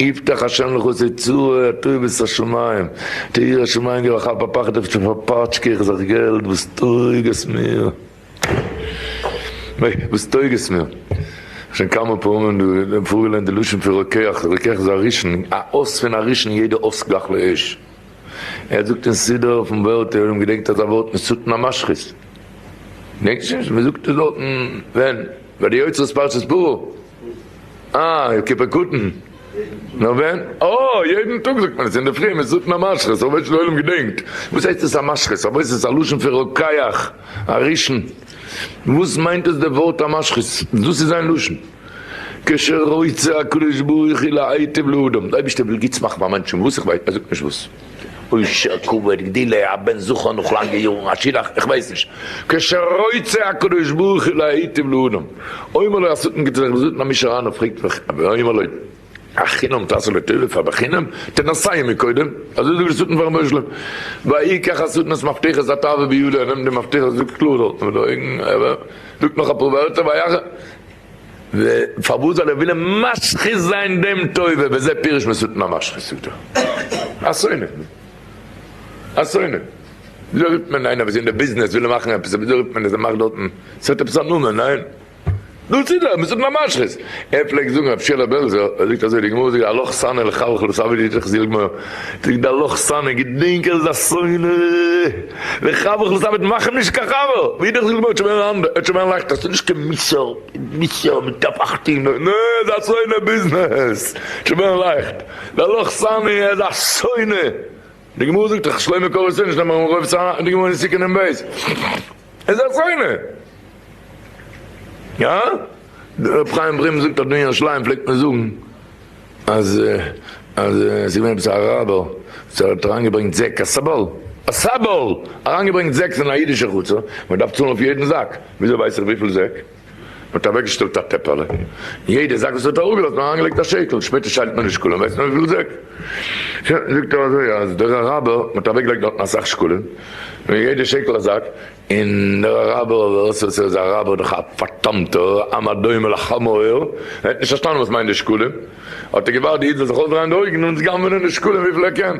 יפתח ה' לך סצור הטוב ואת השמים די ירא שמים גיב א כאפ א פחד אויף שוין פארפאטשקע איך זיך געלט וואס טויג עס מיר וואס טויג עס מיר שוין כמה פעמים דא פארגעליינט די לשון פון רוקח רוקח איז א ראשון א אויס פון א ראשון יעדע אויס גלח לאש ער זאגט אין סידור אויפן וועלט עולם געדענקט אזא ווארט משטן א משחית געדענקט נישט מען זאגט עס דארטן ווען ביי די יוצרות פרשת פרו. אה, יום כיפור קטן. נאר ווען? אה, יעדן טאג זאגט מען עס אינדערפרי, מען זאגט נאר משכות, אויב וועלט'ס עולם געדענקט. וואס הייסט עס א משכות? אויב איז עס א לשון פון רוקח, א ראשון. וואס מיינט עס די ווארט א משכות? דאס איז זיין לשון. כשרוצה הקדוש ברוך הוא להיטיב לאדם, די אייבערשטער וויל גוטס מאכן פאר מענטשן, וואס? איך ווייס, ער זאגט נישט וואס. אשה קבר גדילה א בן זכר נאך לאנגע יארן א שילח איך ווייס נישט כשרוצה הקדוש ברוך הוא להיטיב לאדם אומר לו השטן גיבט זיך געזונט נאר מי שראה פרעגט מיך ואומר לו החינם תעשה לטובה פאר בחינם תנסה עמי קודם אזוי זאגט דער שטן פארן רבי שלום והעיקר השטן'ס מפתחות א תאווה בידו ער נעמט די מפתחות זאגט קלאר דארטן מיט די אויגן ער זאגט נאך אפאר ווערטער פארוואס זאל ער ווילען משחית זיין דעם טובה וזה פירוש מסותנא משחית אותו א שונא א שונא וויאזוי רופט מען איינער וואס איז אין די ביזנעס וויל מאכען עפעס וויאזוי רופט מען עס ער מאכט דארטען עס האט עפעס א נאמען ניין דאס איז ער מסותנא משחית ער פלעגט זאגען רבי שלום בעלזא ער זאגט אזוי די גמרא זאגט א לח שנא לחלחל סא ווי די זאגסט די גמרא זאגט די לח שנא געדענק ער איז א שונא. לך אבער איך זאל אבער מאכן נישט קיין חבר ווי דאס געבויט שוין ווען אנדער עס שוין ווען לייכטער סאיז נישט קיין מוסר מוסר מיט קאפ אכט אין נאר איז א שונא ביזנעס שוין ווען לייכט דער לוח שני איז א שונא די גמרא זאגט דאך שלמה קרא ושונא שניהם אמרו רוב צרה די גמרא אין סי' קנ ב איז א שונא יא דער רב חיים ברם זאגט אז אין ירושלים פלעגט מען זאגן אז אז עס איז געווען עפעס א ראבער וואס האט אריינגעברענגט זעק א סאבאל א סאבאל אריינגעברענגט זעקס אין א אידישע חצר מען דארף צאלן אויף יעדן זאק וויאזוי ווייס איך וויפיל זעק מען האט אוועקגעשטעלט א טעפעלע יעדע זאק וואס האט אראפגעלאזט מען האט אריינגעלייגט א שטעקל שפעטער שיילט מען די שקלים ווייסט מען וויפיל זעק זאגט ער אזוי אז דער אראבער מען האט אוועקגעלייגט דארטן אסאך שקלים און יעדע שקל א זאק. און דער אראבער אבער סאו סאו איז א אראבער דאך א פארדאמטער עם הדומה לחמור, ער האט נישט פארשטאנען וואס מיינט די שקלים, האט ער געווארט די איד זאל זיך אויסדרייען די אויגן און גנב'נען די שקלים וויפיל ער קען,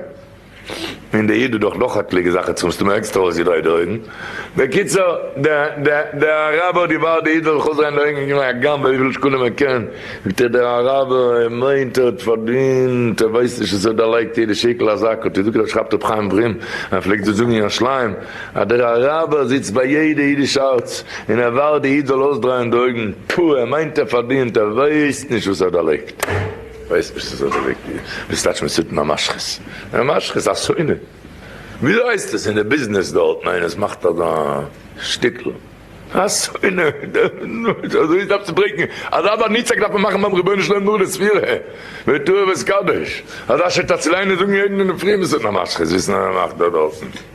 און די איד האט דאך נאך עטליגע זאכן צו מסתמא עקסטער אויסגעדרייט די אויגן, בקיצור די אראבער האט געווארט די איד זאל זיך אויסדרייען די אויגן און געווען א גנב וויפיל שקלים ער קען, זאגט ער דער אראבער ער מיינט ער האט פארדינט ער ווייסט נישט וואס ער דערלייגט יעדע שקל א זאק, האט ער געזאגט ער האט שרייבט ר' חיים וומ א ער פלעגט דאס זאגן אין ירושלים. אז דער אראבער זיצט ביי יעדע אידיש הארץ און ער ווארט די איד זאל אויסדרייען די אויגן, טא ער מיינט ער פארדינט, ער ווייסט נישט וואס ער דערלייגט, ווייסט נישט וואס ער דערלייגט דיר, דאס טייטשט מען סתם א משחית, א משחית א שונא, וויאזוי הייסט עס אין די ביזנעס דארט, ניין איינער עס מאכט אזא שטיקל, א שונא, אזוי דארף צו ברעיקן, אזא באנוצער דארף מען מאכן ביים רבונו של עולם נאך די ספירה, ותועבת קדש, אזא שטאצל איינער זאגן יעדן אינדערפרי וואס איז דען א משחית, וויסן אז ער מאכט דא דארטן.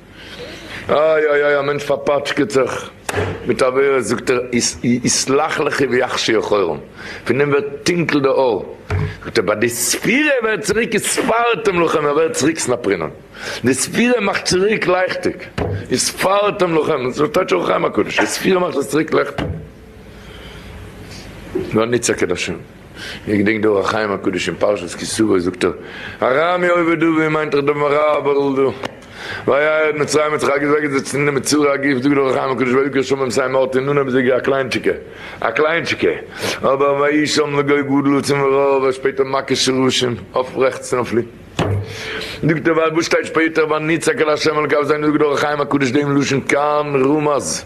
אוי אוי אוי א מענטש פארפאטשקעט זיך מיט עבירות זאגט ער יסלח לך ויחשי אחורם פון דעם ווערט טונקל די אור זאגט ער ביי די ספירה ער ווערט צוריק איז ספרתם לכם ער ווערט צוריק סנפרינן די ספירה מאכט צוריק לייכטיג איז ספרתם לכם אזוי שטייט שוין אויך אין אור הקדוש די ספירה מאכט עס צוריק לעכטיג. איך געדענק די אור החיים הקדוש אין פרשת כי סוה זאגט ער הראה מי עובד הוא ווי מיינט ער דעם הראה אבער ל ד והיה עד מצרים האט זיך אגעזעגעצט אין די מצורע א גוף זאגט די אור החיים הקדוש ויקרא שמים סיי מערט אין נון אביסעלע א קליינטשיקע א קליינטשיקע אבער ויהי שם לגוי גדול עצום ורעה אבער שפעטער מכה של רשעים אויף רעכטס און אויף לינקס זאגט ער ווייל וואס שטייט שפעטער ויצעק אל השם אל קו זיין זאגט די אור החיים הקדוש דעם לשון כאן רמז.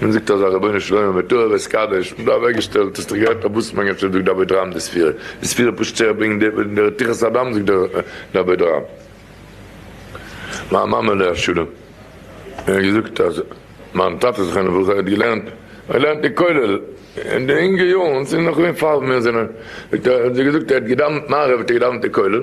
מען זאגט אזא רבינו שלמה מטוהר וועסט קדוש, און דא אוועקגעשטעלט, האסט דאך געהערט אבוס מנגן שזאגט די אבד רם די ספירה, די ספירה פשוט זעך ברענגט די און די רתיחת הדם זאגט די אבד רם. מיין מאמע עליה השלום האט געזאגט אז מיין טאטע זכרונו לברכה האט געלערנט געלערנט אין כולל אין די אינגע יארן, ס'איז נאך געווען פאר מיר זענען, זאגט ער, האט זי געזאגט ער האט געדאווענט מעריב האט ער געדאווענט אין כולל,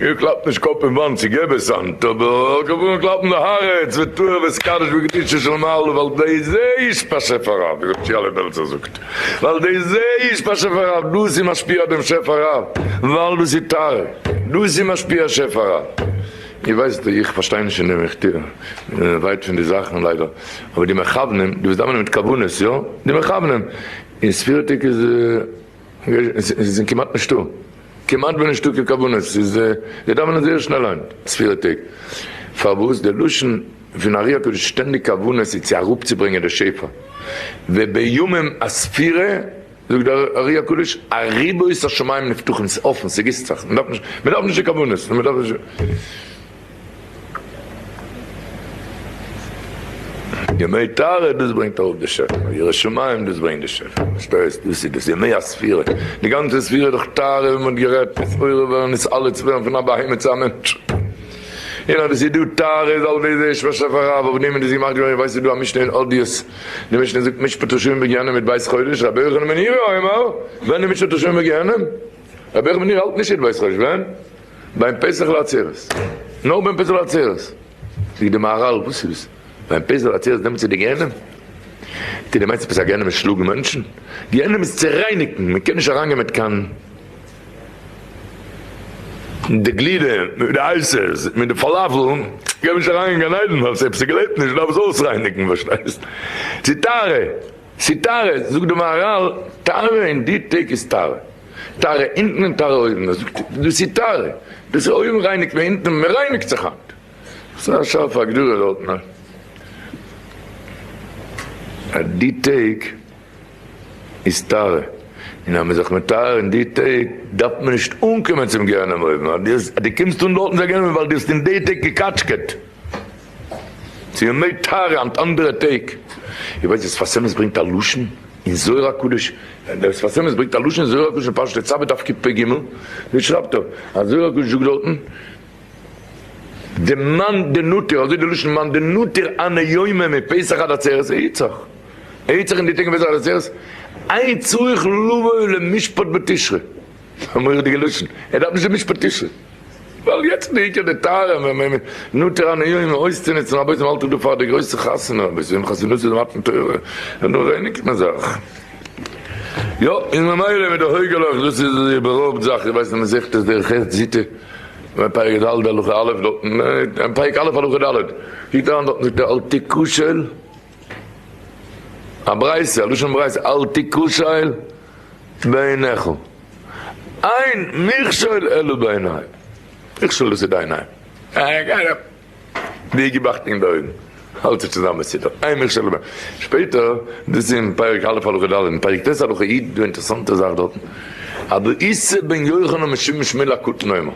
איר קלאפט נישט קאפ אין וואנט צו געבער סאנט, אבער קענט אנהויבן קלאפן די הארץ ותורה ותקדש וקדושה של מעלה ווייל די זה איש באשעפער רב, ווי רבי שיעלע בעלזער זאגט, ווייל די זה איש באשעפער רב, דאס איז משפיע דעם שפע רב, ווייל דאס איז טהר, דאס איז משפיע שפע רב. איר ווייסט ווי איך פארשטיי נישט אין די מכתבים, מיר זענען ווייט פון די זאכן ליידער, אבער די מכוונים, די וואס דאווענען מיט כוונות, יא, די מכוונים, אין ספירותדיג איז עס כמעט נישטא. כמעט ווען נישטא קיין כוונות, ס'איז זיי דאווענען זייער שנעל היינט ספירה טעג, פארוואס די לשון פון ארי הקדוש שטענדיג כוונות איז צו אראפצוברענגען די שפע, ובימים הספירה זאגט די ארי הקדוש אריבער איז השמים נפתחים ס'איז אפען ס'גיסט זיך, מ'דארף נישט די כוונות, מ'דארף נישט. ימי טהרה דאס ברענגט ארויף די שפע, ירא שמים דאס ברענגט די שפע, פארשטייסט? דאס איז דאס, ימי הספירה, די גאנצע ספירה איז דאך טהרה ווי מען האט גערעדט, עס עורר ווערן עס אלע צו ווערן פון א בהמה צו א מענטש, און אז עס איז דא טהרה איז אלס בעזר ה' פאר שפע רב, אויף דעם איז דאס געמאכט געווארן, איר ווייסט עס איז דא א משנה אין אודיות, די משנה זאגט משפט רשעים בגיהנם מיט בית חודש, רבי יוחנן בן ירא אומר, ווען איז משפט רשעים בגיהנם? רבי יוחנן בן ירא האלט נישט מיט בית חודש, ווען? ביים פסח לעצרת, נאר ביים פסח לעצרת, זאגט די מהרל וואס איז דאס? ביים פסח לעצרת נעמט זי די גיהנום? די די מיינסט עפעס א גיהנום איז שלאגן מענטשן? גיהנום איז צו רייניגן, מען קען נישט אריין גיין מיט קיין די גלידה מיט די אייסעס מיט די פאלאפל קען מען נישט אריין אין גן עדן ווייל עפעס געלעבט נישט דארף עס אויסרייניגן פארשטייסט? ס'איז טהרה ס'איז טהרה זאגט די מהרל טהרה אין די טעג איז טהרה. טהרה אונטן און טהרה אויבן, ער זאגט דאס איז טהרה, דאס איז אויבן רייניגט מען אונטן, מען רייניגט זיך היינט, ס'איז א שארפע הגדרה דארטן א אז די טעג איז טהרה, און אז מען איז זיך מטהר אין די טעג דארף מען נישט אנקומען צום גיהנום אויבן, אז דו קומסט אן דארטן צו א גיהנום איז ווייל דו האסט אין די טעג געקאטשקעט. צו ימי תרי אנד אנדערע טעג, איר ווייסט וואס פאר סמס ברענגט א לשון אין זוהר הקדוש? וואס פאר סמס ברענגט א לשון אין זוהר הקדוש אין פרשת תצוה דף קפ פ ג? וואס שרייבט דא? אז זוהר הקדוש זאגט דארטן די מאן דנותר, אזוי די לשון מאן דנותר אנע יומא מפסח עד עצרת איצח, איצח אין די טעג פון פסח עד עצרת, אין צריך לבוא למשפט בתשרי. א מורא'דיגע לשון, ער דארף נישט די משפטישע, ווייל יעצט איז די עיקר די טעם, ווען מען נוטר אן איום אויסצונוצן רבותי מען האלט זיך דא פאר די גרויסע חתונה, בסיום חתונות איז מתן תורה, און נאך ווייניגער מען זאך. יא, און ממילא מיט די הויגעלעך, דאס איז ווי ביי רוב זאכן, איך ווייס נישט מסכת עס דער חת ס זי ט, און פרק ד' הלכה א' דארטן, און פרק א' הלכה ד', היט אריין דארטן שטייט אל תקושל, א ברייתא, א לשון ברייתא, אל תקושל. בעיניך, אין מכשול אלא בעיני. מכשול איז צו דיין איין. אה, גיי אראפ. ווי געבאכט אין די אויגן. האלט זיך צוזאם מסודר. אין מכשול אלא בעיני. שפעטער, דאס איז אין פרק א' הלכה ד', אין פרק ט' הלכה י', דא אינטערעסאנטע זאך דארטן. אבער איסר בן יוחנן משום שמואל הקטן אומר.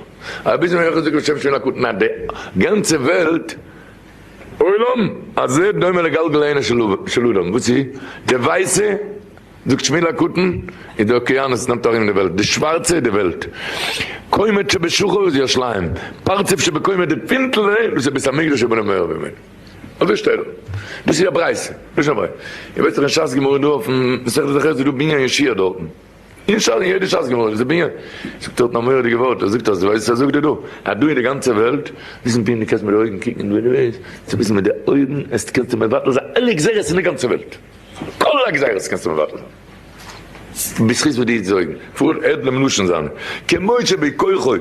רבי איסר בן יוחנן זאגט בשם שמואל הקטן אז די גאנצע וועלט, עולם, הזה דומה לגלגל הענן של אדם. וואס איז? די ווייסע. זאגט שמואל הקטן, איז די אוקיינוס נעמט ארום די וועלט, די שווארצע איז די וועלט, קומת שבשחור איז ירושלים, פרצוף שבקומה איז די פינטל זעה וואס איז בית המקדש אבן המאור ממנו. אזוי שטייט דא. דאס איז א ברייתא. לשון הברייתא. איר ווייסט דאך אין שס גמרא דא אויפן מסכת זכר איז דא בנין ישיעה דארטן. אין שס אין יעדע שס גמרא איז דא בנין. זאגט דארטן א מורא'דיגע ווארט, ער זאגט אז דו ווייסט ער זאגט דיר דא אז דא אין די גאנצע וועלט, וויסן טוהן דו קענסט מיט די אויגן קוקן און ווען דו וועסט וויסן מיט די אויגן עסט קענסטו מבטל זיין אלע גזירות אין די גאנצע וועלט. אלע גזירות קענסטו מבטל בזכות וואס די זויגן פאר עדלעם לשון זיינע כמו שבי כוחו,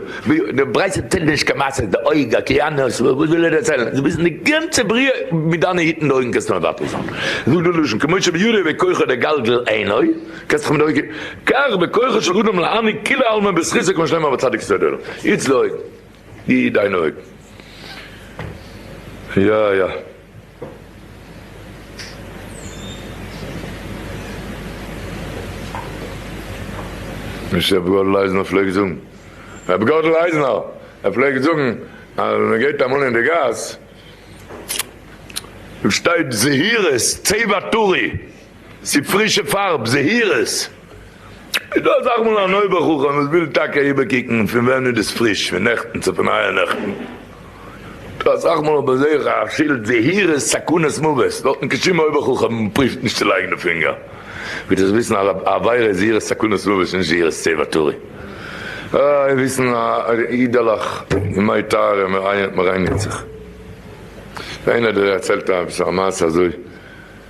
די ברייתא צייגט דיר נישט קיין מעשה די אויג אקעאנוס וואס וויל ער דערציילן דו ביסט די גאנצע בריאה מיט דיינע היטן די אויגן קענסטו מבטל זיין זאגט די לשון כמו שבידו בכוחו לגלגל עיניו קענסט זיך מיט די אויגן כך בכוחו של אדם להעניק כולי עלמא בזכותו כמו שנאמר בצדיק ספר ד' איצט די אויגן די דיינע אויגן יא יא. נישט רבי גאָדל אײַזנער פֿלעגט זאָגן. רבי גאָדל אײַזנער פֿלעגט זאָגן, אַז מע גײט אַמאָל אין דער גאַס, שטײט זהירות, צבֿע טרי, צו פרישע פארב זהירות. איז דא אזאך מאל אן אויבער חכם וואס וויל טאקע איבערקוקן פון ווען איז דאס פריש, פון נעכטן צו פון אייער נעכטן. דא אסאך מאל אבער זעה איך א שילד זהירות סכנת מוות, דארט נישט קיין שום אויבער חכם פריווט נישט צו לייגן די פינגער. וויל איך וויסן אז א עבירה איז זהירות סכנת מוות און נישט זהירות צא ואטורי. אוי וויסן א אידעלעך אין מי טהרה מ'רייניגט זיך. איינער דערציילט עפעס א מעשה אזוי.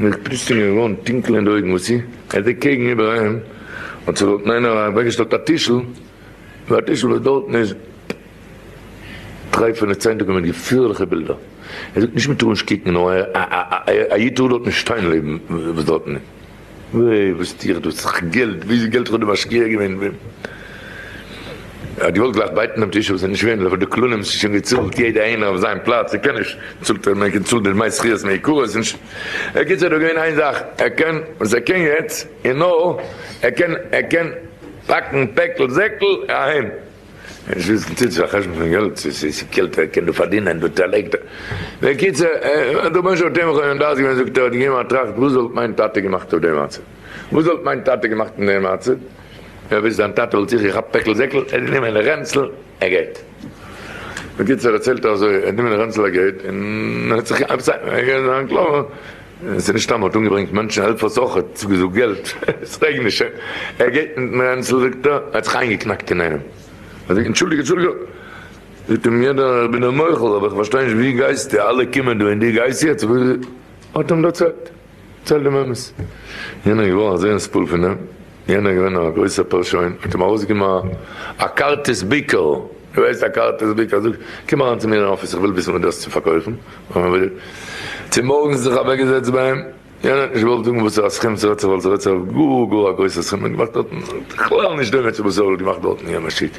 נאָר איך פּיסט אים געװאָרן טונקל אין די אױגן, װאָס אי ער זעט קעגן איבער אים, אַז ס'װאָלט אים אײנער אַװעקגעשטעלט אַ טישל, װי אַ טישל, װאָס דאָרטן איז טרײפֿענע צײַטונגען מיט געפֿערלעכע בילדער. ער זאָגט, נישט, מע טאָר נישט קוקן, נאָר אַ ייִד טאָר דאָרט נישט שטײן לעבן, װאָס דאָרטן איז. װאָס טו איך דאָ? ס'איז דאָך געלט! װי איז געלט? כ'האָב דיר משקיע געװען. ער האט געוואלט גלייך בייטן דעם טיש וואס איז נישט ווערד אבער די כללים איז שוין געצאלט יעדע איינער אויף זיין פלאץ ער קען נישט צאלט ער מער געצאלט די דמי שכירות מעיקרא איז נישט בקיצור איז דא געווען איין זאך ער קען וואס ער קען יעצט איז נאר ער קען ער קען פאקן פעקל זעקל אהיים ער נישט וויסן צו ס'איז א חשבון פון געלט צו ס'איז קעלט ער קען דא פארדינען דא צעלייגט ער בקיצור ער האט רבונו של עולם מוטעה געווען דארט געווען זאגט ער האט געגעבן א טראכט וואס וואלט מיין טאטע געמאכט אויף דעם מצב. וואס וואלט מיין טאטע געמאכט אין די מצב? ווער ווייסט דיין טאטע וואלט זיכער געכאפט פעקל זעקל, ער האט גענומען א רענצל א געט. בקיצור ער צילט אזוי ער האט גענומען א רענצל א געט און ער האט זיך געווען קלאר עס איז נישט סתם ער האט אומגעברענגט מענטשן העלפערס אויך ער האט צוגעזאגט געלט עס רעגנט נישט שוין ער געט מיטן רענצל זאגט ער ער האט זיך איינגעקנאקט אין איינעם ער זאגט אנטשולדיג אנטשולדיג זאגט אים יענער איך בין דיר מוחל אבער איך פארשטיי נישט ווי גייסטו אלע קומען דא און דו גייסט יעצט וואס האט אים דערציילט. צייל דעם אמת. יענער איז געווארן אזוי אין ספול פון אים, יענער איז געווען א גרויסער פארשוין, האט אים ארויסגענומען א כרטיס ביקור, דו וועסט א כרטיס ביקור, ער זאגט, קום אריין צו מיר אין אפיס, איך וויל וויסן וואס דו האסט צו פארקויפן, צומארגנס זיך אוועקגעזעצט ביי אים, יענער האט נישט געוואלט זאגן וואס פאר א סכום ס'רעדט זיך, ווייל ס'רעדט זיך אויף גאר גאר א גרויסע סכום, ער האט געמאכט דארטן בכלל נישט דומה צו וואס ער האט געמאכט דארטן אין יענע שטוב.